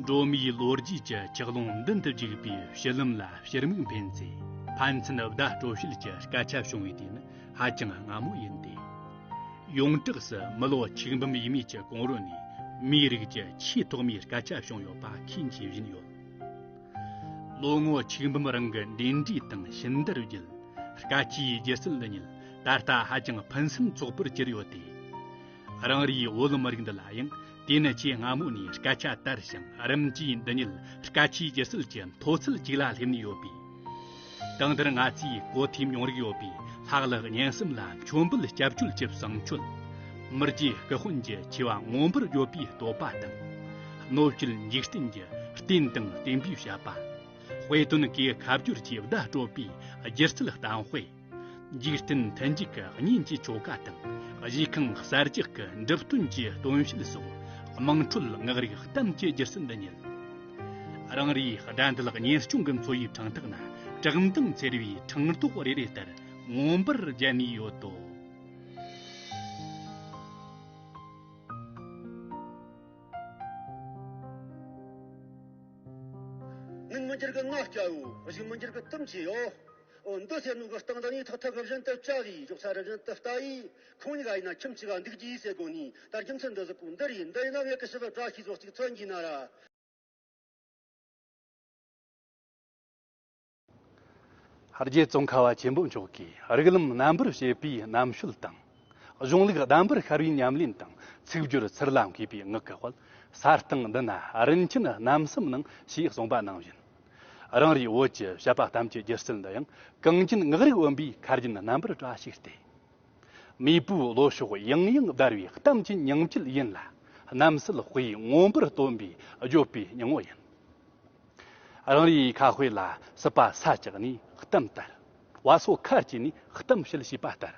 འགྲོ་མིའི་ལོ་རྒྱུས་ཀྱི་ཆག་ཀློང་མདུན་དུ་འཇུག་པའི་བཤུལ་ལམ་ལ་ཕྱིར་མིག་འཕེན་ཚེ་ཕན་ཚུན་བརྡ་སྤྲོད་བཤུལ་གྱི་སྐད་ཆ་བྱུང་བའི་དུས་ནི་ཧ་ཅང་སྔ་མོ་ཡིན་ཏེ། ཡོངས་གྲགས་སུ་མི་ལོ་ཆིག་འབུམ་ཡས་མས་ཀྱི་གོང་རོལ་ནས་མིའི་རིགས་ཀྱི་ཆེས་ཐོག་མའི་སྐད་ཆ་བྱུང་ཡོད་པ་མཁྱེན་གྱིས་བཞིན་ཡོད། ལོ་ངོ་ཆིག་འབུམ་རིང་གི་འབྲེལ་འདྲིས་དང་ཞིབ་བསྡུར་བརྒྱུད་སྐད་ཆའི་སྒྱུ་རྩལ་ཉིད་ད་ལྟ་ཧ་ཅང་ཕུན་སུམ་ཚོགས་པོར་གྱུར་ཡོད་དེ། རང་རེའི་དབུ་ལམ་རིགས་འདི་ལ་ཡང་དེ་ནི་ཆེས་སྔ་མོ་ནས་སྐད་ཆ་དར་ཞིང་རིམ་གྱིས་འདི་ཉིད་སྐད་ཆའི་སྒྱུ་རྩལ་གྱི་མཐོ་ཚད་ཅིག་ལ་སླེབས་ནས་ཡོད་པས། དང་དུར་ང་ཚོས་གོ་ཐོས་མྱོང་རིག་ཡོད་པའི་ལྷག་ལྷག་སྙན་གསུམ་ལ་མཆོད་འབུལ་སྐྱབས་བཅོལ་གྱི་བསང་མཆོད། མི་རྗེ་སྐུ་དཔོན་གྱི་ཆེ་བ་མངོན་པར་ཡོད་པའི་བསྟོད་པ་དང། གནོད་བྱེད་འཇིག་རྟེན་གྱི་རྟེན་དང་བརྟེན་པའི་བཤད་པ། དཔེ་སྟོན་གྱི་ཁ་བསྒྱུར་གྱི་བརྡ་སྤྲོད་པའི་སྒྱུ་རྩལ་གཏམ་དཔེ། འཇིག་རྟེན་མཐུན་འཇུག་གི་གཉེན་གྱི་ཆོ་ག་དང་གཞིས་ཁང་གསར་རྒྱག་གི་འགྲིབ་སྟོན་གྱི་སྟོན་བཤད་སོགས་དམངས་ཁྲོད་སྔགས་རིག་གཏམ་གྱི་རྒྱུ་རྩལ་འདི་ཉིད། རང་རེའི་དགྲ་འདུལ་གཉེར་སྐྱོང་གི་འཚོ་བའི་གྲངས་ཐག་ན་གྲགས་མདངས་འཚེར་བའི་འཕྲང་རྡོག་རེ་རེ་ལྟར་མངོན་པར་རྒྱལ་ནས་ཡོད་དོ། མིག་མི་འགྱུར་གྱི་སྔགས་བརྒྱའོ། གཞུ་མི་འགྱུར་གྱི་གཏུམ་བྱེད་ཡོད། འོན་ཏུ་ཚེ་ནུས་ཀྱི་སྟེང་དུ་ནི་ཐོག་ཐོག་གི་བཞིན་དུ་ལྕགས་ཀྱི་རྒྱུག་ཆ་རི་བཞིན་དུ་བལྟ་ཡི། ཁོང་གཉིས་ཀ་ཡིན་ན་ཁྱིམ་གཅིག་ལ་འདུག་ཅི་ཡི་ཟེར་དགོངས་ནས་ད་རྒྱུ་མཚན་འདི་གཟིགས་པོ་འདི་རེད་འདི་ཡིན་ན་ངེད་ཀྱི་ཕྱི་སོར་བཀྲ་ཤིས་ཚོགས་གཅིག་འཚོལ་གྱིན་ན་ར། རྗེ་བཙུན་ཁ་བ་ཆེན་པོ་མཆོག་གིས་རིགས་ལམ་རྣམ་པར་བཤད་པའི་རྣམ་དཔྱོད་དང། གཞུང་ལུགས་གདམས་པར་ཤར་བའི་ཉམས་ལེན་དང་ཚིག་སྦྱོར་ཚུར་ལ་འཁེལ་པའི་ངག་གི་དཔལ་གསར་སྟེང་འདི་ན་རིན་ཆེན་རྣམ་གསུམ་སྣང་ཞེས་གསུངས་པ་ནང་བཞིན། རང་རེའི་བོད་ཀྱི་བཤད་པ་གཏམ་གྱི་སྒྱུ་རྩལ་འདི་ཡང་གངས་རྒྱན་ངག་རིག་དབེན་པའི་མཁར་རྒྱན་རྣམ་པར་བཀྲ་ཤིས་ཏེ། མེས་པོའི་བློ་ཕྱོགས་ཡང་ཡང་བརྡར་བའི་གཏམ་གྱི་ཉིང་བཅུད་ཡིན་ལ། གནམ་སྲིད་དཔེའི་མངོན་པར་སྟོན་པའི་བརྗོད་པའི་སྙིང་བོ་ཡིན། རང་རེའི་ཁ་དཔེ་ལ་སྲིད་པ་ས་བཅག་ནས་གཏམ་དར། བ་སོ་ཁ་སྐྱེས་ནས་གཏམ་བཤད་ཞེས་པ་ལྟར།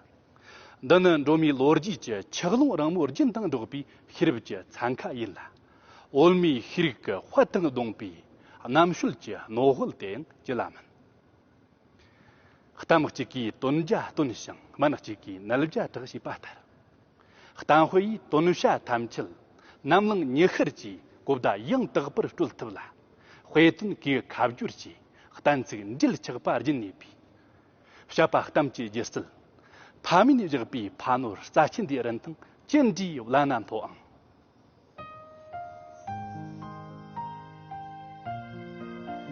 འདི་ནི་འགྲོ་མིའི་ལོ་རྒྱུས་ཀྱི་ཆག་ལུང་རིང་མོའི་རྒྱུན་དང་འགྲོགས་པའི་ཤེས་རབ་ཀྱི་འཚང་ཁ་ཡིན་ལ། འོལ་མོའི་ཤེས་རིག་གི་དཔལ་དང་བསྡོངས་པའི་རྣམ་དཔྱོད་ཀྱི་རྣོ་དབལ་དེའང་ཅི་ལ་མིན། གཏམ་གཅིག་གིས་དོན་བརྒྱ་སྟོན་ཞིང་སྨན་གཅིག་གིས་ནད་བརྒྱ་དྲག་ཞེས་པ་ལྟར། གཏམ་དཔེ་ཡིས་དོན་བྱ་ཐམས་ཅད་ནམ་བླངས་ཉི་ཤར་གྱི་གོ་བརྡ་ཡང་དག་པར་སྤྲོད་ཐུབ་ལ། དཔེ་དོན་གྱི་ཁ་བསྒྱུར་གྱིས་གཏན་ཚིགས་འགྲེལ་ཆགས་པ་སྦྱིན་ནུས་པས། བཤད་པ་གཏམ་གྱི་རྒྱུ་རྩལ། ཕ་མིང་བཞག་པའི་ཕ་ནོར་རྩ་ཆེན་འདིའི་རིན་ཐང་ཅི་འདྲའི་བླ་ན་མཐོ་ཨང།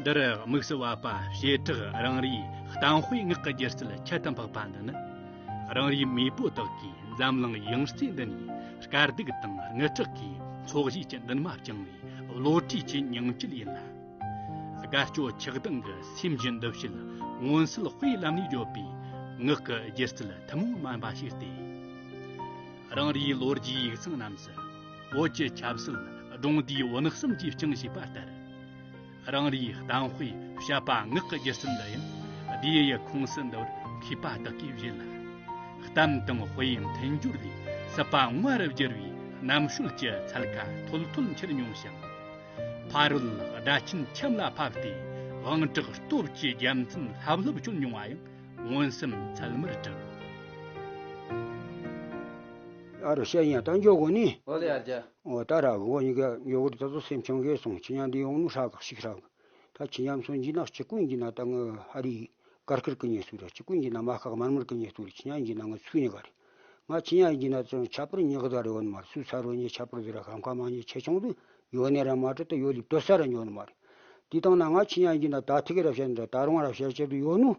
འདིར་དམིགས་བསལ་བ་བྱེ་བྲག་རང་རེའི་གཏམ་དཔེའི་ངག་གི་སྒྱུ་རྩལ་ཁྱད་དུ་འཕགས་པ་འདི་ནི། རང་རེའི་མེས་པོ་དག་གིས་འཛམ་གླིང་ཡང་རྩེ་འདི་ནས་དཀར་སྡུག་དང་རྔུལ་ཁྲག་གི་ཚོགས་བཞེས་ཀྱི་འདུན་མ་བཅིངས་བའི་བློ་གྲོས་ཀྱི་ཉིང་བཅུད་ཡིན་ལ། དགའ་སྐྱོ་ཆགས་སྡང་གི་སེམས་ཀྱི་འདུ་བྱེད་མངོན་གསལ་དཔེའི་ལམ་ནས་བརྗོད་པའི་ངག་གི་སྒྱུ་རྩལ་ཐུན་མོང་མིན་པ་ཞིག་སྟེ། རང་རེའི་ལོ་རྒྱུས་ཡིག་ཚང་རྣམས་སུ་བོད་ཀྱི་ཆབ་སྲིད་སྒྲུང་དུས་བོན་གསུམ་གྱིས་བསྐྱངས་ཞེས་པ་ལྟར། རང་རེའི་གཏམ་དཔེ་བཤད་པ་ངག་གི་སྒྱུ་རྩལ་འདི་ཡང་དེའི་ཡུལ་ཁོངས་སུ་འདུར་མཁས་པ་དག་གིས་བཞེད་ལ། གཏམ་དང་དཔེའི་མཐུན་སྦྱོར་ལས་སྲིད་པ་དངོས་རུ་བསྒྱུར་བའི་རྣམ་དཔྱོད་ཀྱི་ཚལ་ཁ་འཐོལ་འཐོལ་འཁྱེར་མྱོང་ཞིང། ཕ་རོལ་དགྲ་ཆེན་ཁྱིམ་ལ་ཕབ་སྟེ་དབང་དྲག་སྟོབས་ཀྱི་རྒྱལ་མཚན་ལྷབ་ལྷུབ་གྱོན་མྱོང་བ་ཡང་མངོན་སུམ་ཚད་མར་གྲུབ། ཨ་རུ་ཤ་ཡང་རྟ་མགྱོགས་གོ་ནི། ཨོ་ལི་ཨར་རྒྱ། ཨོ་རྟ་རག་གོ་ནི་ག་མགྱོགས་གོ་རི་རྟ་ཚོ་སེམས་ཆོ་འགས་སོང་ཁྱི་ཉག་འདི་ཡོང་ནུ་ཧྲག་ག་ཤིག་ཧྲག་ག་ད་ཁྱི་ཉམས་སོང་འཇི་ནག་ཁྱི་ཀུན་གྱི་ན་ད་ང་ཧ་རི་གར་ཁིར་ཀི་ཉེ་སུ་ར་ཁྱི་ཀུན་གྱི་ན་མ་ཁག་མར་མར་ཀི་ཉེ་སུ་རི་ཁྱི་ཉག་འཇི་ན་ང་ཚུ་ཉེ་ག་རི། ང་ཆི་ཡང་གྱི་ན་ཙོན་ཁྱད་པར་ཉི་ཁ་དང་རི་བོ་ནི་མ་རེད་སུ་ཚ་རོ་ཉི་ཁྱད་པར་དེ་ར་ཁམ་ཁ་མ་ཉི་ཆེ་ཆུང་དུ་ཡོ་ནེ་ར་མ་ཏྲི་ཏུ་ཡོ་ལིབ་ཏོ་སར་ར་ཉོ་ནི་མ་རེད། དེ་དང་ན་ང་ཆི་ཡང་གྱི་ན་ད་ཐི་ཁི་ར་བཤད་ནི་ར་ད་རུང་ར་བཤད་བྱེད་དུ་ཡོ་ནུ།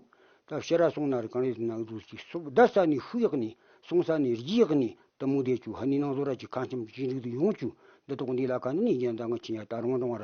ད་བཤད་ར་སོང་ན་རི་གང་རེད་དེ་ན་འུ་ཚོ་ཅིག་སོབ་བདའ་ས་ནི་ཧུ་ཡག་ནི་སོང་ས་ནི་རྒྱི་ཡག་ནི་ད་མུ་དེ་ཆུ་ཧ་ནི་ནང་ཟོ་ར་ཅིག་ཁ་འཁྱམ་ཅིག་འགྲིག་དུ་ཡོང་ཅུ་འདི་ཏོག་འདི་ལ་ག་ནི་ནི་རྒྱན་ད་ང་ཆི་ཡང་ད་རུང་རང་ར་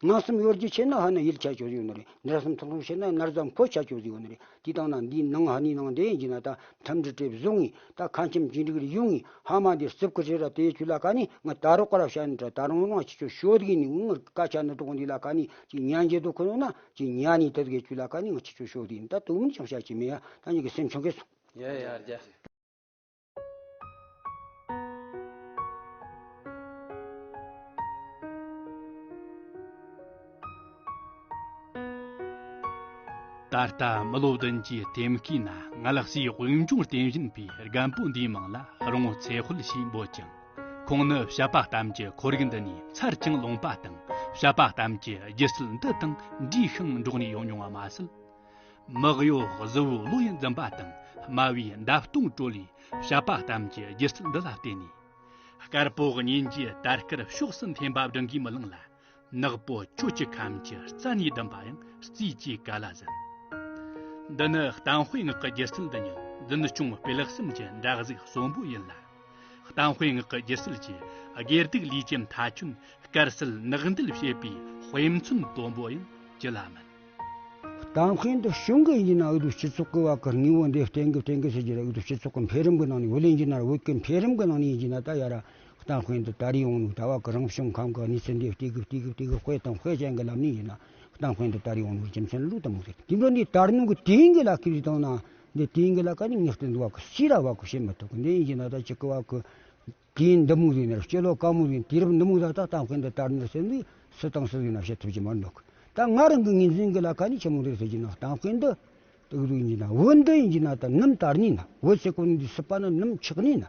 སྣང་གསུམ་གཡོར་གྱི་ཕྱེད་ན་ཧ་ནི་ཡུལ་ཆགས་ཆོས་ཡོད་ནི་རེ། འདྲ་གསུམ་ཐོག་མའི་ཕྱེད་ན་མནར་ཙམ་འཁོར་ཆགས་ཆོས་ཡོད་ནི་རེ། དེ་དག་ན་འདིའི་ནང་ཧ་ནི་ནང་འདྲེན་གྱི་ན་ད་ཐམས་ཅད་བྲེད་བཟུང་ངི་ད་ཁ་འཁྱམ་གྱི་འགྲིག་རི་ཡུག་ངི་ཧ་མ་འདི་རྩིབ་ཁུ་རི་ར་དེ་ཆུ་ལ་ཀ་ནི་ང་ད་རོག་ཀ་ར་བྱ་ནི་དྲ་ད་རང་སྣང་ཆི་ཆོ་ཤོད་གི་ནི་ངུ་ངར་ཀ་ཆ་ནི་གྲོག་འདི་ལ་ཀ་ནི་ཅི་ཉན་གྱི་དུ་ཁུ་ནོ་ན་ཅི་ཉན་ནི་དེ་དགའི་ཆུ་ལ་ཀ་ནི་ང་ཆི་ཆོ་ཤོད་གི་ནི་ད་དུ་མི་ནི་ཆང་བྱ་ཅི་མི་ཡ་ད་ཉི་གི་སེམས་ཆོ་གས་སོང། ཡ་ཡ་རྒྱ། ད་ལྟ་མི་ལོ་བདུན་གྱི་དེབ་སྐྱིད་ན་ང་ལ་སའི་དབུས་འབྱུང་རྟེན་བཞེངས་པའི་རྒན་པོ་འདིའི་མིང་ལ་རོང་བོ་ཚེ་དཔལ་ཞེས་འབོད་ཅིང་ཁོང་ནི་བཤད་པ་གཏམ་གྱི་ཁོར་ཡུག་འདི་ནས་ཚར་ཅིང་ལོངས་པ་དང་བཤད་པ་གཏམ་གྱི་སྒྱུ་རྩལ་འདི་དང་འདྲིས་ཤིང་འགྲོགས་ནས་ཡོང་མྱོང་བ་མ་ཟད། མི་གཡོ་གཟུ་བོའི་བློ་ཡིས་འཛིན་པ་དང་དམའ་བའི་འདབ་སྟོང་དྲོད་ལས་བྱབ་པ་ཙམ་གྱི་སྒྱུ་རྩལ་འདི་ལ་བརྟེན་ནས། དཀར་པོ་སྙིང་རྗེའི་དར་དཀར་ཕྱོགས་སུ་འཐེན་པ་བདུན་གྱིས་མི་ལངས་ལ། ནག་པོ་ཁྱོད་ཀྱི་ཁམས་ཀྱི་རྩ་ནས་བསྡམས་པ་ཡང་རྩིས་ཀྱི་ག་ལ་ཟིན། འདི་ནི་གཏམ་དཔེ་ངག་གི་སྒྱུ་རྩལ་འདི་ཉིད་འཛིན་སྐྱོང་སྤེལ་གསུམ་གྱི་འདྲ་གཟུགས་གསོན་པོ་ཡིན་ལ། གཏམ་དཔེ་ངག་གི་སྒྱུ་རྩལ་གྱི་སྒེར་སྡུག་ལུས་ཀྱི་མཐའ་ཁྱོན་དཀར་གསལ་ནག་འདུལ་བྱེད་པའི་དཔེ་མཚོན་དོན་པོ་ཡང་ཅི་ལ་མིན། དང་ཁུལ་དུ་ཞུགས་འགོ་ཡིན་ན་ཨུ་རུ་སྤྱི་ཚོགས་ཀྱི་བར་གྱི་ངོ་བོ་འདི་གཏན་འགེབས་གཏན་འཁེལ་བྱེད་རྒྱུ་ལས་ཨུ་རུ་སྤྱི་ཚོགས་ཀྱི་འཕེལ་རིམ་གྱི་ནང་ནས་ཝི་ལིན་ཇི་ནར་ཝུད་ཀྱི་འཕེལ་རིམ་གྱི་ནང་ནས་ཡིན་གྱི་ན་ད་ཡ་ར། དང་ཁུལ་དུ་ད་རེས་ཡོང་ལུགས་ད་བར་གྱི་རང་བྱུང་ཁམས་ཀྱི་གནས་ཚུལ་འདི་སྟེ་གི་སྟེ་གི་སྟེ་གི་དཔེ་དང་དཔེ་ཅན་གྱི་ལམ་ནས་ཡིན་ན་དང་ཁུལ་དུ་ད་རེས་ཡོང་ལུགས་རྒྱུ་མཚན་ལུགས་དང་མུ་སྟེགས་དེ་འདྲ་འདི་ལྟར་ནང་གི་དེང་གི་ལ་ཀི་རིགས་དང་ནང་གི་དེང་གི་ལ་ཀ་ནི་ངེས་གཏན་དུ་བར་གྱི་སྤྱི་ལ་བར་གྱི་བྱེད་མི་ཐུབ་གི་འདི་ཡིན་གྱི་ན་ད་ཅི་གི་བར་གྱི། དེའི་འདམ་མུག་རིགས་ནི་སྤྱི་ལོ་དཀར་མོ་རིང་དུས་རབས་འདི་མུག་ཟ་ལྟ་སྟངས་ཀྱི་འདི་ལྟར་འདི་སེར་མིག་སུ་དང་སུ་ཡི་ནག་ཤེལ་ཐུགས་ཀྱི་མར་འདུག་ད་སྔ་རང་གི་ངེས་འཛིན་གྱི་ལ་ཁ་ནི་ཆེན་མོ་རིགས་སུ་བགྱིས་ན་སྟངས་ཀྱི་འདི་སྟག་རུས་ཉིད་ན་འོད་མདངས་ཡིན་གྱི་ན་ད་ནུམ་དར་ནི་ན་འོད་སེར་ཀོ་ནི་འདི་སྲིད་པ་ན་ནུམ་ཆགས་ནི་ན་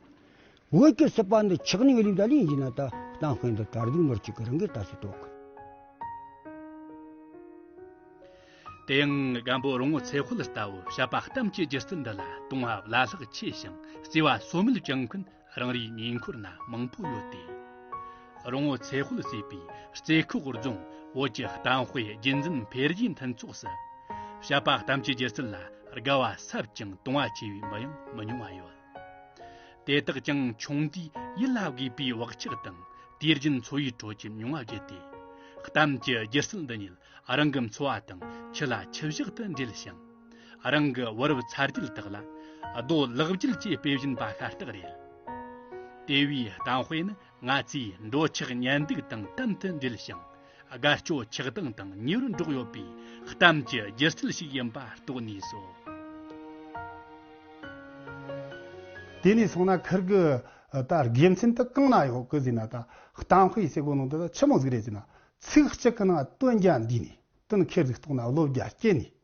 འོད་ཀྱི་སྲིད་པ་འདི་ཆགས་ནི་འོད་ལིབ་ལ་ལི་ཡིན་གྱི་ན་ད་སྟངས་ཀྱི་འདི་དར་གདུགས་ནོར་གཅིག་གི་རང་གི་ལྟ་སྲིད་དོ། དེ་ཡང་སྒམ་པོ་རོང་བོ་ཚེ་ཧོལ་ལྟ་བུ་བྱ་བ་གཏམ་གྱི་སྒྱུ་རྩལ་འདི་ལ་དུང་བ་བླ་ལྷག་ཆེ་ཞིང་བརྩེ་བ་ཟོལ་མེད་བྱུང་མཁན་རང་རེའི་ཉེ་འཁོར་ན་མང་པོ་ཡོད་དེ། རོང་བོ་ཚེ་དཔལ་བསད་པའི་རྩེ་ཁོག་རྫོང་བོད་ཀྱི་དཔའ་དཔེ་རྒྱུད་འཛིན་འཕེལ་རྒྱས་མཐུན་ཚོགས་སུ། བཤད་པ་གཏམ་གྱི་སྒྱུ་རྩལ་ལ་དགའ་བ་ཟབ་ཅིང་དུང་བ་ཆེ་བའི་མི་ཡང་མི་ཉུང་བ་ཡོད། དེ་དག་ཀྱང་ཆུང་དུས་ཡིད་ལ་དགོས་པའི་བག་ཆགས་དང་དུས་རྒྱུན་འཚོ་བའི་ཁྲོད་ཀྱི་མྱོང་བ་བརྒྱུད་དེ། གཏམ་གྱི་སྒྱུ་རྩལ་འདི་ཉིད་རང་གི་འཚོ་བ་དང་ཁྱི་ལ་ཁྱི་བཞག་ཏུ་འབྲེལ་ཞིང། རང་གི་བུ་རབས་ཚར་གཅིག་དག་ལ་རྡོ་ལག་བསྐྱིལ་གྱིས་དཔེ་བཞིན་པ་ཤ་སྟག་རེད། དེ་བས་གཏམ་དཔེ་ནི་ང་ཚོའི་འགྲོ་འཆག་གཉེན་སྡུག་དང་དམ་དུ་འབྲེལ་ཞིང་དགའ་སྐྱོ་ཆགས་སྡང་དང་ཉེ་བར་འགྲོགས་ཡོད་པའི་གཏམ་གྱི་སྒྱུ་རྩལ་ཞིག་ཡིན་པ་རྟོགས་ནུས་སོ། དེ་ནས་སོང་ན་ཁིར་གི་ད་དགེ་མཚན་དུ་གང་ན་ཡོད་ཀི་ཟེར་ན་ད་གཏམ་དཔེ་བྱེད་སྒོ་ནང་དུ་ད་ཆི་མོ་ཟིག་རེད་ཟེར་ན་ཚིག་གཅིག་གི་ནང་དོན་རྒྱ་འདུས་ནས་དོན་ཁེར་ཟིག་རྟོགས་ན་བློ་རྒྱ་སྐྱེས་ནས་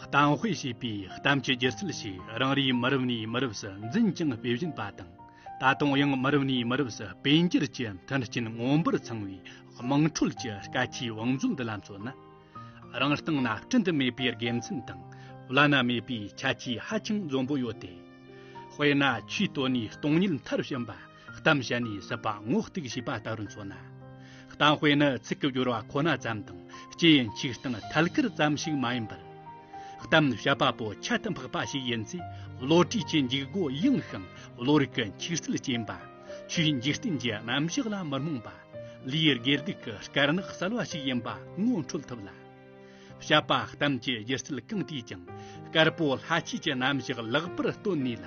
གཏམ་དཔེ་ཞེས་པའི་གཏམ་གྱི་སྒྱུ་རྩལ་ཞིག་རང་རེའི་མི་རབས་ནས་མི་རབས་སུ་འཛིན་ཀྱང་དཔེ་བཞིན་པ་དང་ད་དུང་ཡང་མི་རབས་ནས་མི་རབས་སུ་དཔེ་འགྱུར་གྱི་མཐུན་རྐྱེན་མངོན་པར་ཚང་བའི་དམངས་ཁྲོད་ཀྱི་སྐད་ཆའི་བང་མཛོད་འདི་ལ་མཚོན་ན། རང་སྟེང་ན་བསྐྲུན་དུ་མེད་པའི་དགེ་མཚན་དང་བླ་ན་མེད་པའི་ཁྱད་ཆོས་ཧ་ཅང་འཛོམས་པོ་ཡོད་དེ། དཔེར་ན་ཆུའི་སྟོད་ནས་སྟོང་ཉིད་མཐར་ཕྱིན་པ། གཏམ་བཤད་ནས་སྲིད་པ་ངོ་གཏུགས་བྱས་པ་ལྟ་བུར་མཚོན་ན། གཏམ་དཔེ་ནི་ཚིག་གི་སྦྱོར་བ་ཁོ་ན་ཙམ་དང་སྐྱེ་ཡི་མཆིས་སྟངས་ཐད་ཀར་ཙམ་ཞིག་མ་ཡིན་པར། གཏམ་བཤད་པ་པོ་ཁྱད་དུ་འཕགས་པ་ཞིག་ཡིན་ཚེ་བློ་གྲོས་ཀྱི་འཇུག་སྒོ་ཡངས་ཤིང་བློ་རིག་གི་འཁྱིག་སིལ་ཅན་པ། ཆོས་འཇིག་རྟེན་གྱི་རྣམ་གཞག་ལ་མི་རྨོངས་པ། ལུས་དགེ་སྡིག་གི་དཀར་ནག་གསལ་བ་ཞིག་ཡིན་པ་ངོ་འཕྲོད་ཐུབ་ལ། བཤད་པ་གཏམ་གྱི་སྒྱུ་རྩལ་གང་དེས་ཀྱང་དཀར་པོ་ལྷ་སྐྱིད་ཀྱི་རྣམ་གཞག་ལེགས་པར་སྟོན་ནུས་ལ།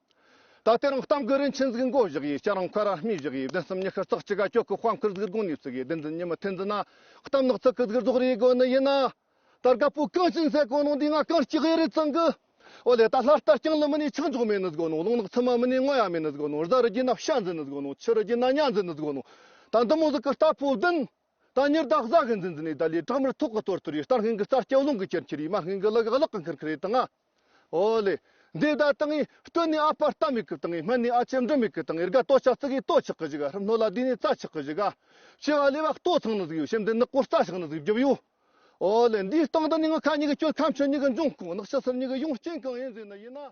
ད་ལྟའི་རང་གཏམ་གྱི་རིན་ཆེན་གཟིགས་མགོ་བཞག་ཡས་སྐྱ་རང་འཁོད་ར་སྨིས་བཞག་ཡས་བདུན་གསུམ་ཉི་ཤར་ཙག་ཅི་ག་ཀྱོག་གི་དཔའ་མཁར་གཟིགས་དགོངས་ནས་བཙུགས་ཡས་བདུན་འཛིན་ཉི་མ་ཐུན་འཛིན་ན་གཏམ་ནག་ཙག་གི་གཟིགས་རྫོགས་རེའི་དགོས་ནི་ཡིན་ན། ད་རྒ་པོ་གངས་ཅན་ཟས་གོ་ནོང་འདི་ང་གངས་སྐྱིད་ཡས་རེད་ཙང་གི། ཨོ་ལེ་ད་ལྷ་རྟ་རྐྱང་ལི་མི་ནས་ཆིག་འཇོག་མེད་ནི་གཟིགས་ནོང་རླུང་ནག་ཚི་མ་མི་ནས་སྔོན་ཡ་མེད་ནི་གཟིགས་ནོང་བཟའ་རི་རྒྱུད་ན་བཤའ་འཛིན་ནི་གཟིགས་ནོང་ཕྱི་རི་རྒྱུད་ན་གཉའ་འཛིན་ནི་གཟིགས་ནོང་ད་འདི་མོ་གཟིགས་གི་རྟ་ཕོ་བདུན། ད་ཉེར་བདག་བཟའ་གི་འཛིན་འཛིན་ནས་ད་ལས་དྲག་མར་ཐོག་གི་སྟོར་སྟོར་ཡིན་སྟར་སྔོན་གྱི་རྩར་སྐྱོ་རླུང་གི་ཁྱེར་ཁྱེར་ཡིན་མ་སྔོན་གྱི་གླག་གི་གླག་གི་འཁིར་འཁིར་ཡིན་དང་ང། ཨོ་ལེ། འདི་ད་ལྟ་ངའི་སྟོད་ནས་ཨ་ཕར་ལྟ་མི་སྐུབ་དང་ངའི་སྨད་ནས་ཨ་ཅེར་འབྲི་མི་སྐུབ་དང་ངའི་རྒ་ལྟོ་ཆག་ཙིག་གིས་ལྟོ་ཆག་གི་གཞི་ག་ཧྲུལ་སྣོད་ལ་དུས་ནས་རྩ་ཆག་གི་གཞི་ག། ཕྱི་བ་ལས་བ་ལྟོ་ཚང་ནང་གཟུགས་ཡོད་སེམས་འདི་ནག་པོར་རྩ་ཆག་ནང་གཟུགས་རྒྱུབ་ཡོད། ཨོ་ལེ་འདིའི་སྟེང་དུ་ནི་ངུ་ཁ་གཉིས་ཀྱི་སྐྱོན་ཁམས་ཆུ་གཉིས་ཀྱི་འབྱུང་ཁུངས་ནག་ཕྱི་སེར་གཉིས་ཀྱི་ཡོང་རྐྱེན་གང་ཡིན་ཟེར་ན་ཡིན་ན།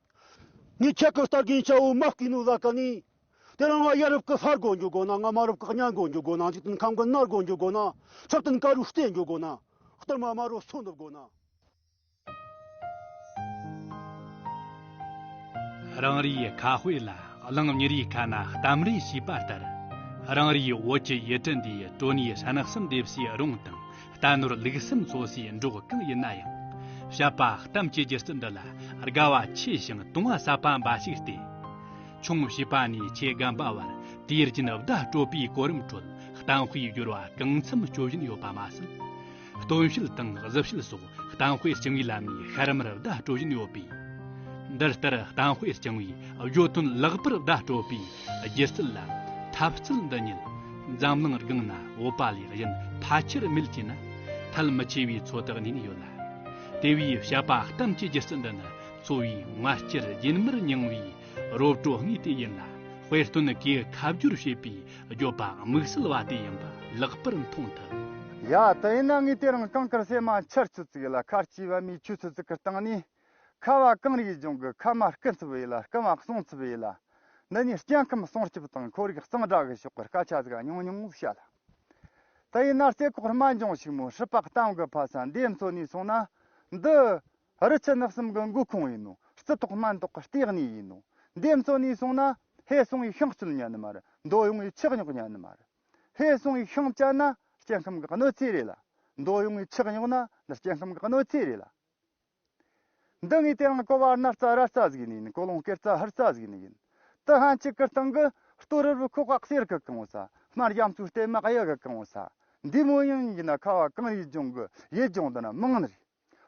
ངས་ཁྱེད་ཀྱི་སྟག་རྒན་ཆའོ་མཱ་སྐྱིད་ནུའུ་ལ་ག་ནས། དེ་རིང་ང་ཡ་རབས་ཀྱི་ལྷར་དགོད་འཇུག་དགོས་ན་ང་མ་རབས་ཀྱི་གཉའ་དགོད་འཇུག་དགོས་ན་འཇིག་རྟེན་ཁམས་ཀྱི་སྣར་དགོད་འཇུག་དགོས་ན་ཆུ་རྟེན་ཀ་རུ་བསྟན་འཇུག་དགོས་ན་གཏོར་མ་དམར་རུ་ཚུར་འདུབ་དགོས་ན། རང་རེའི་ཁ་དཔེ་ལ་གླིང་གཉེར་ཡིག་ཁ་ན་གཏམ་རས་ཞེས་པ་ལྟར། རང་རེའི་བོད་ཀྱི་ཡུལ་གྲུ་འདིའི་གྲོ་ནས་ཧྲན་གསུམ་འདེབས་སའི་རོང་དང། རྟ་ནོར་ལུག་སེམས་བཟོ་སའི་འབྲོག་སྐད་ཡིན་ན་ཡང། བཤད་པ་གཏམ་གྱི་སྒྱུ་རྩལ་འདི་ལ་དགའ་བ་ཆེ་ཞིང་དུང་བ་ཟབ་པ་འབའ་ཞིག་སྟེ། ཆུང་བྱིས་པ་ནས་ཆེ་རྒན་པ་བར་དུས་རྒྱུན་བརྡ་སྤྲོད་པའི་གོ་རིམ་ཁྲོད་གཏམ་དཔེའི་སྦྱོར་བ་གང་འཚམ་སྤྱོད་བཞིན་ཡོད་པ་མ་ཟད། སྟོན་དཔྱིད་དང་གཟི་དཔྱིད་སོགས་གཏམ་དཔེ་རྐྱང་བའི་ལམ་ནས་ཤར་མར་བརྡ་སྤྲོད་བཞིན་ཡོད་པས། འདི་ལྟར་གཏམ་དཔེ་རྐྱང་བའི་བརྗོད་དོན་ལེགས་པར་བརྡ་སྤྲོད་པའི་སྒྱུ་རྩལ་ལ་ཐབས་རྩལ་འདི་ཉིད། འཛམ་གླིང་རྒང་ན་འོད་པ་ལས་གཞན་ཕལ་ཆེར་མེད་ཅེ་ན། ཐལ་མི་ཆེ་བའི་ཚོད་དག་ཉིད་ཡོད་ལ། དེ་བས་བཤད་པ་གཏམ་གྱི་སྒྱུ་རྩལ་འདི་ནི་འཚོ་བའི་ངར་སྐྱེར་རྒྱུན་མར་མྱང་བའི་རོ་བྲོ་དངོས་དེ་ཡིན་ལ། དཔེ་སྟོན་གྱིས་ཁ་བསྒྱུར་བྱས་པའི་སྒྱོད་པ་དམིགས་བསལ་བ་དེ་ཡིན་པ་ལེགས་པར་མཐོང་ཐུབ། ཡ། དེ་ཡིན་ན་ངས་དེ་རིང་གང་དཀར་ཟས་མ་འཆར་ཆུ་ཚིགས་ལ་ཁ་ལྕི་བ་མའི་ཆུ་ཚོད་ཙིག་གི་སྟེང་ནས་ཁ་བ་གང་རིགས་འབྱུང་གི་ཁ་མ་སྐུ་འཚུབ་ཡིད་ལ་སྐུ་མ་གསུང་འཚུབ་ཡིད་ལ། འདི་གཉིས་སྐྱེ་ཁམས་སྲུང་སྐྱོབ་དང་ཁོར་ཡུག་གཙང་སྦྲ་གི་ཕྱོགས་ཀྱི་སྐད་ཆ་ཟིག་ཉུང་ཉུང་བཤད་སླ། དེ་ཡིན་ན་རྩེ་ཁོག་རྨ་འབྱུང་ཞིག་མོ་ཧྲི་པགས་གཏམ་གྱི་ཕ་ས་འདིའི་མཚོ་ནས་སོང་ན། འདི། རི་ཆུ་ནགས་གསུམ་གྱི་མགོ་ཁུངས་ཡིན་ནོ་རྩི་ཐོག་སྨན་ཐོག་གི་ལྟེ་གནས་ཡིན་ནོ། འདིའི་མཚོ་ནས་སོང་ན། ཧེ་སུང་ཡི་ཤིང་སྐྱོལ་ཉན་ནི་མ་རེད་མདོ་ཡོངས་ཡི་ཆགས་ཉོག་ཉན་ནི་མ་རེད། ཧེ་སུང་ཡི་ཤིང་བཅད་ན་སྐྱེ་ཁམས་ཀྱི་གནོད་འཚེ་རེད་ལ། མདོ་ཡོངས་ཡི་ཆགས་ཉོག་ན་འདི་སྐྱེ་ཁམས་ཀྱི་གནོད་འཚེ་རེད་ལ། འདི་ངའི་དེ་རང་ཀོ་བ་རྣ་རྩ་ར་རྩ་ཟིག་ནི་ཡིན་ཀོ་ལོང་ཀེར་རྩ་ཧར་རྩ་ཟིག་ནི་ཡིན། དི་ཧན་གཅིག་གི་སྟེང་གི་ལྟོ་རུ་རུ་ཁུག་ཁག་སེར་གི་གང་བོ་ས་དམར་གཡམ་ཆུ་ལྟེ་མག་གཡུ་གི་གང་བོ་ས་འདི་མོ་ཡིན་ཡིན་ན་ཁ་བ་གང་ཡིད་སྦྱོང་གི་ཡིད་སྦྱོང་དུ་ན་མང་ནི་རེད།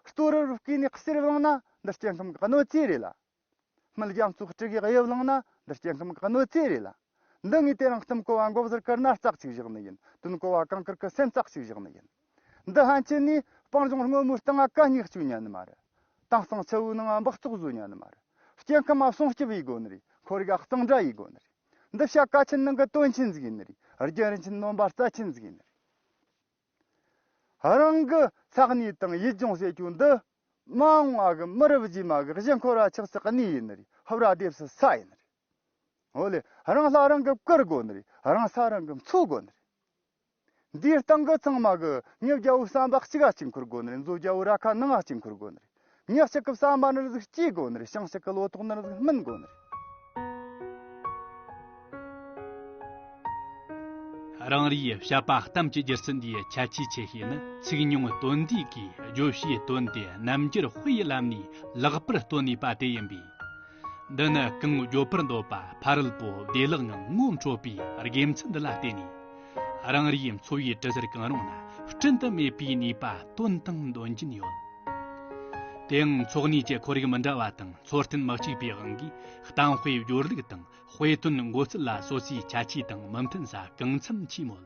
ལྟོ་རུ་རུ་སྐྱེས་ནས་གསེར་བླངས་ན་འདི་སྐྱེ་ཁམས་ཀྱི་གནོད་འཚེ་རེད་ལ། མི་རྒྱ་མཚོ་སྤྲུལ་གྱི་དབྱིབས་བླངས་ན་འདི་སྐྱེ་ཁམས་གནོད་རྩེ་རེད་ལ། འདི་ངས་དེ་རིང་བསྟུན་བསྐོ་བ་འགོག་ཟེར་ཀར་ན་རྩག་ཅིག་བཞག་ནི་ཡིན་བསྟུན་བསྐོ་བ་གངས་དཀར་ཁུ་སེམས་རྩག་ཅིག་བཞག་ནི་ཡིན། འདི་ཧན་ཆེན་ནས་སྤང་ལྗོངས་སྔོན་མོའི་སྟེང་ཨ་ཀ་སྙེག་བཅུག་ཉན་ནི་མ་རེད། དེང་སང་ཆུ་བོའི་ནང་འབག་བཙོག་བཟོས་ཉན་ནི་མ་རེད། སྐྱེ་ཁམས་སྲུང་སྐྱོབ་ཡི་དགོས་ནི་རེད་འཁོར་རྒ་གཙང་སྦྲ་ཡི་དགོས་ནི་རེད། འདི་བྱ་དཀའ་ཆེན་ནང་གི་དོན་ཆེན་ཟིག་ཡིན་ནི་རེད་རྒྱུན་རིན་ཆེན་ནོན་པ་རྩ་ཆེན་ཟིག་ཡིན་ནི་རེད། རང་གི་ཚགས་ནུས་དང་ཡིད་སྦྱོང་བྱེད་རྒྱུ་འདི། མང་བ་གི་མི་རབས་རྗེས་མ་གི་གཞི་འཁོར་བ་ཆགས་སྲེག་གནས་ཡིན་རིགས་ཧབ་ར་སྡེབས་སུ་ས་ཡིན་རིགས། འོ་ལེ་རང་ལྷ་རང་གི་བཀུར་དགོས་ནི་རིགས་རང་ས་རང་གི་འཚོ་དགོས་ནི་རིགས། འདིའི་སྟེང་གི་ཚང་མ་གི་ཉིད་རྒྱལ་བོའི་བསམ་པ་གཅིག་གཅིག་འཁུར་དགོས་ནི་རིགས་མཛོད་རྒྱལ་བོའི་ར་ཁ་ནང་གཅིག་འཁུར་དགོས་ནི་རིགས། ཉག་གཅིག་གི་ས་དམར་ནི་གཟུགས་སྐྱེས་དགོས་ནི་ཤིང་གཅིག་གི་ལོ་ཏོག་ནི་གཟུགས་སྨིན་དགོས་ནི། རང་རེའི་བཤད་པ་གཏམ་གྱི་སྒྱུ་རྩལ་འདིའི་ཁྱད་ཆོས་ཆེ་ཤོས་ནི་ཚིག་ཉུང་དོན་འདུས་ཀྱིས་བརྗོད་བྱའི་དོན་དེ་རྣམ་འགྱུར་དཔེའི་ལམ་ནས་ལེགས་པར་བཏོན་ནུས་པ་དེ་ཡིན་པས། འདི་ནི་གང་འགྱོད་པར་འདོད་པ་ཕ་རོལ་པོ་བདེ་བླག་ངང་ངོ་འཕྲོད་པའི་དགེ་མཚན་འདི་ལ་བརྟེན་ནས། རང་རེའི་འཚོ་བའི་གྲུ་གཟར་གང་རུང་ན་བསྐྲུན་དུ་མེད་པའི་ནུས་པ་བཏོན་དང་འདོན་གྱིན་ཡོད། དེའང་འཚོ་གནས་ཀྱི་ཁོར་ཡུག་མི་འདྲ་བ་དང་འཚོ་རྟེན་མི་གཅིག་པའི་དབང་གིས་གཏམ་དཔེའི་སྦྱོར་ལུགས་དང་དཔེ་དོན་མགོ་ཚུལ་ལ་སོ་སོའི་ཁྱད་ཆོས་དང་མི་མཐུན་ས་གང་འཚམ་མཆིས་མོད།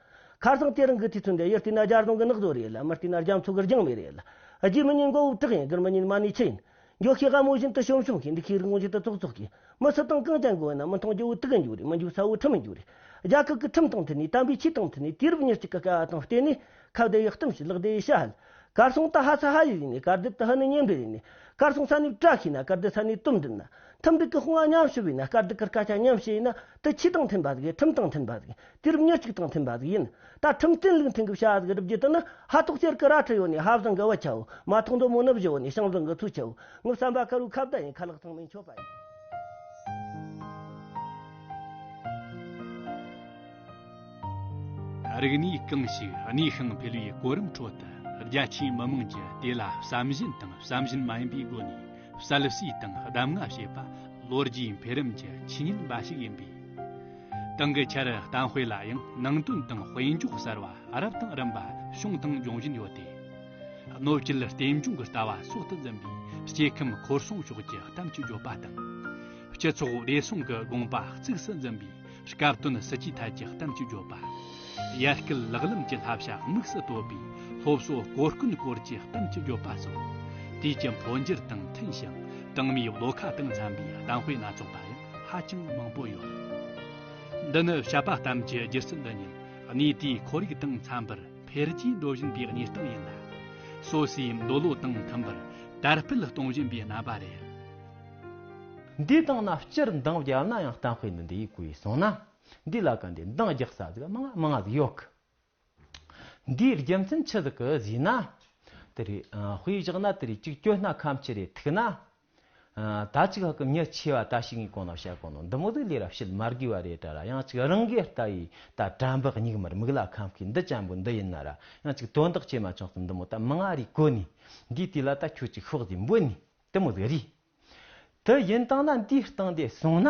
ཁར་སང་དེ་རིང་གི་དུས་ཚོད་འདི་ཡུལ་བསྟི་ན་རྒྱ་རྫོང་གི་ནགས་བཟོ་རེད་ལ་མི་བསྟི་ན་རྒྱ་མཚོ་གི་རྒྱང་མི་རེད་ལ། རྒྱུ་མི་ཉིད་མགོ་དབུབ་དྲག་ཡིན་དགུན་མི་ཉིད་མ་ནུས་ཆུ་ཡིན། འགྱོག་ཤི་དགའ་མོ་བཞིན་དུ་ཤོམ་ཤོམ་ཤིག་འདི་ཤི་རིག་ངོ་ཤེས་དུ་ཙོག་ཙོག་ཤིག། མི་སུ་དང་གང་ཅང་གོ་བས་ན་མི་མཐོང་རྒྱུ་བོ་དུག་གི་འཇུག་རེད་མི་འཇུག་ས་བོ་ཁྲིམས་མི་འཇུག་རེད། རྒྱ་ཁག་གི་ཁྲིམས་དང་མཐུན་ནས་དམ་པའི་ཆོས་དང་མཐུན་ནས་དུས་རབས་ཉེར་གཅིག་གི་དཀའ་བ་དང་བརྟེན་ནས་ཁ་བརྡའི་ཡག་གཏམ་ཞིག་ལག་བརྡའི་ཤ་ཧལ། གར་སོང་ད་ཧ་ས་ཧ་ཡིས་ཡིན་ནས་གར་སྡེབ་ད་ཧ་ནི་གཉེན་འབྲེལ་ཡིན་ནས་གར་སོང་ས་ནས་བཀྲ་ཤིས་ན་གར་སྡེ་ས་ནས་དུམ་འགྲིག་ན། ཐུམ་འགྲིག་གི་དཔུང་བ་མཉམ་ཞུ་བས་ན་དཀར་སྡུག་གི་སྐད་ཆ་མཉམ་བཤད་ཡིན་ན་དུ་ཁྱི་དང་མཐུན་པ་ཟིག་གི་ཁྲིམས་དང་མཐུན་པ་ཟིག་དུས་རབས་ཉེར་གཅིག་དང་མཐུན་པ་ཟིག་ཡིན། ད་ཁྲིམས་བསྟན་ལུགས་མཐུན་གྱི་བྱ་བ་ཟིག་བསྒྲུབ་རྒྱུ་དེ་ནི་ཧ་གཏོགས་གཅེར་གི་ར་ཁྲི་ཡོད་ནས་ཧ་བཟང་གི་བུ་ཆེའོ། མ་ཐོག་མདོ་མོ་ནུབ་བཞི་བོ་ནས་ཤང་བཟང་གི་ཐུ་ཆེའོ། ངུ་བསམ་པ་དཀར་བོའི་ཁ་བརྡ་ཡིན་ཁ་ལག་ཚང་མའི་མཆོད་པ་ཡིན། རིག་གནས་རྐང་ཞིག་གནས་ཤིང་འཕེལ་བའི་གོ་རིམ་ཁྲོད་དུ་རྒྱ་ཆེའི་མི་དམངས་ཀྱིས་དེ་ལ་བསམ་བཞིན་དང་བསམ་བཞིན་མ་ཡིན་པའི་སྒོ་ནས་གསལ་བསྲིས་དང་གདམ་ང་བྱེད་པ་ལོ་རྒྱུས་འཕེལ་རིམ་གྱི་ཆོས་ཉིད་འབའ་ཞིག་ཡིན་པས། ཏང་གི་འཆར་གཏམ་དཔེ་ལ་ཡང་ནང་དོན་དང་དཔེ་འཇོག་གསར་བ་རབ་དང་རིམ་པ་བྱུང་དང་འབྱུང་བཞིན་ཡོད་དེ། གནོད་སྐྱེལ་རྟེན་འབྱུང་གི་ལྟ་བ་སྲོག་ཏུ་འཛིན་པའི་སྐྱེ་ཁམས་ཁོར་སྲུང་ཕྱོགས་ཀྱི་གཏམ་གྱི་བརྗོད་པ་དང། སྤྱི་ཚོགས་བདེ་སྲུང་གི་དགོངས་པ་གཙིགས་སུ་འཛིན་པའི་སྐབས་དོན་སྲིད་ཇུས་ཐད་ཀྱི་གཏམ་གྱི་བརྗོད་པ། ཡར་སྐུལ་ལག་ལེན་གྱི་བསླབ་བྱ་དམིགས་སུ་བཏོད་པའི་སློབ་གསོ་གོ་སྐོན་སྐོར་གྱི་གཏམ་གྱི་བརྗོད་པ་སོགས། དུས་ཀྱི་འཕོ་འགྱུར་དང་མཐུན་ཞིང་ཏང་མིའི་བློ་ཁ་དང་འཚམ་པའི་གཏམ་དཔེ་སྣ་ཚོགས་པ་ཡང། ཧ་ཅང་མང་པོ་ཡོད། འདི་ནི་བྱ་དཔའ་གཏམ་གྱི་སྒྱུ་རྩལ་འདི་ཉིད་གནས་དེའི་ཁོར་ཡུག་དང་འཚམ་པར་འཕེལ་རྒྱས་འགྲོ་བཞིན་པའི་གནས་སྟངས་ཡིན་ལ། སོ་སོའི་འདོད་བློ་དང་མཐུན་པར་དར་སྤེལ་གཏོང་བཞིན་པའི་རྣམ་པ་རེད། འདིའི་སྟེང་ན་སྤྱིར་འདང་བརྒྱབ་ན་ཡང་གཏམ་དཔེ་འདི་འདི་ཡིན་གོ་ཡིས་གསུངས་ན། འདི་ལ་ག་འདི་འདང་རྒྱག་ས་ཟིག་མང་ང་ཟིག་ཡོད་གི། འདིའི་རྒྱུ་མཚན་ཆི་ཟིག་གི་བཟོས་ན། དེ་རེད། དཔེ་བཞག་ན་དེ་རེད་གཅིག་སྐྱོ་སྣ་ཁམ་ཆི་རེད་ཐུག་ན། ད་གཅིག་ཧ་གི་མྱི་ཆི་བ་ད་ཞིག་ངའི་གོང་ན་བཤད་གོ་ནོ་འདི་མོ་དུ་ལས་ར་བཤད་མ་དགོས་བ་རེད་དྲ་ར་ཡང་གཅིག་རང་གིས་ལྟ་ཡི་ད་དྲ་འབག་སྙིགས་མར་མིག་ལ་ཁམ་ཁི་འདི་ཅན་པོ་འདི་ཡིན་ན་ར་ཡང་གཅིག་དོན་དག་བྱེད་མ་ཆོག་ཏུ་འདི་མོ་ད་མི་ང་རིག་གོ་ནི་འདིའི་དུས་ལ་ད་ཁྱོད་ཅིག་ཤོག་ཟིག་འབོད་ནི་དེ་མོ་ཟིག་རིག་དེ་ཡིན་སྟངས་ན་འདིའི་སྟངས་དེ་སོང་ན།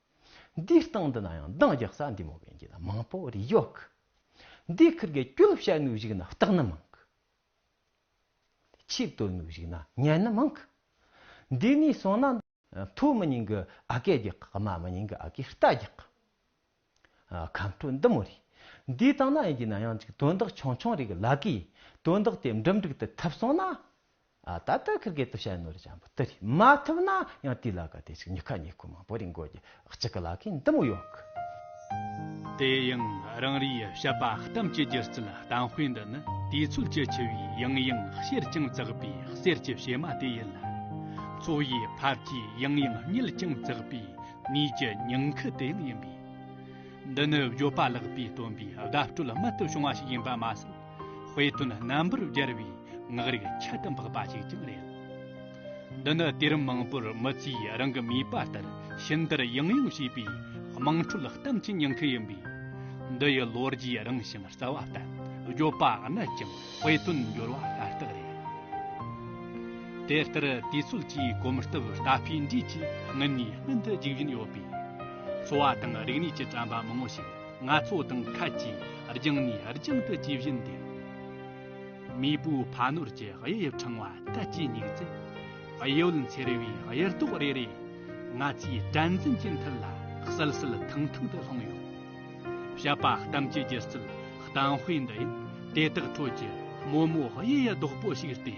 འདིའི་སྟེང་དུ་ན་ཡང་འདང་རྒྱག་ས་འདི་མོ་བན་གྱི་ན་མང་པོ་རེ་ཡོད་གི། འདི་ཁུར་གའི་སྐྱོད་ལུགས་བྱ་ནུས་ཞིག་ན་སྟག་ནི་མང་གི། ཆིབས་གཏོད་ནུས་ཞིག་ན་གཉན་ནི་མང་གི། འདི་ནས་སོང་ན། མཐོ་མི་ཉིང་གི་ཨ་ཀས་རྒྱག་གི་དམའ་མི་ཉིང་གི་ཨ་ཀས་རྟ་རྒྱག་གི། ཁམས་ཁྲོད་འདི་མོ་རེ། འདིའི་སྟེང་ན་ཡན་གྱི་ན་ཡང་ཅིག་དོན་དག་ཆུང་ཆུང་རེ་གི་ལག་གིས་དོན་དག་དེ་འགྲིམ་འགྲིག་ཏུ་ཐུབ་སོང་ན། ད་ལྟ་ཁིར་གེ་ཏུ་ཤྭའི་ནོར་ལྕམ་པོ་དེ་རིགས་མ་ཐུབ་ན་ཡང་དེའི་ལག་ག་དེ་ཅིག་ཉི་ཁ་ཉེ་དགུ་མང་པོ་རིང་དགོས་ཀྱི་གཅིག་གི་ལག་གི་འདི་མོ་ཡོག་གི། དེ་ཡང་རང་རེའི་བཤད་པ་གཏམ་གྱི་སྒྱུ་རྩལ་གཏམ་དཔེ་འདི་ནི་དུས་ཚོད་ཀྱི་ཆུ་བོའི་ཡང་ཡང་གཤེར་ཀྱང་བཙགས་པའི་གསེར་གྱི་བྱེ་མ་དེ་ཡིན་ལ། འཚོ་བའི་འཕར་གྱིས་ཡང་ཡང་བསྙིལ་ཀྱང་བཙགས་པའི་ནུས་ཀྱི་ཉིང་ཁུ་དེ་ཡང་ཡིན་པས། འདི་ནི་བརྗོད་པ་ལེགས་པའི་སྟོན་པའི་དགའ་སྤྲོ་ལ་མེད་དུ་བྱུང་བ་ཞིག་ཡིན་པ་མ་ཟད། དཔེ་སྟོན་རྣམ་པར་རྒྱལ་བའི་ངག་རིག་ཁྱད་དུ་འཕགས་པ་ཞིག་ཀྱང་རེད། འདི་ནི་དུས་རིམ་མང་པོར་མི་ཚོས་རང་གི་ནུས་པ་ལྟར་ཕྱི་འདིར་ཡང་ཡང་བྱས་པའི་དམངས་ཁྲོད་གཏམ་གྱི་ཉེན་ཁ་ཡིན་པས། འདི་ཡི་ལོ་རྒྱུས་རིང་ཞིང་རྩ་བ་བརྟན་བརྗོད་པ་ནི་ཅང་དཔེ་དོན་འགྱུར་བ་ཤ་སྟག་རེད། དེ་ལྟར་དུས་ཚོད་ཀྱི་གོམ་སྟབས་རྟ་ཕོའི་འགྲོས་ཀྱིས་སྔུན་ནས་སྔུན་དུ་རྒྱུག་བཞིན་ཡོད་པས། འཚོ་བ་དང་རིག་གནས་ཀྱི་དྲྭ་འབག་མང་བོ་ཞིག། ང་ཚོ་དང་ཁད་ཀྱིས་རྒྱང་ནས་རྒྱང་དུ་ཇི་བཞིན་འདུག། མེས་པོའི་ཕ་ནོར་གྱི་དབྱེ་དབྱིབས་ཕྲེང་བ་བལྟ་ཅི་སྙིགས་ཚེ། གཡས་གཡོན་འཚེར་བའི་གཡེར་ཏོག་རེ་རེ། ང་ཚོའི་དྲན་འཛིན་གྱི་མཐིལ་ལ་གསལ་གསལ་ཐང་ཐང་དུ་ལྷུང་ཡོད། བཤད་པ་གཏམ་གྱི་སྒྱུ་རྩལ་གཏམ་དཔེ་འདི་ཡིན། དེ་དག་ཁྲོད་ཀྱི་དམོད་མོ་དབྱེ་ཡི་རྡོག་པོ་ཞིག་སྟེ།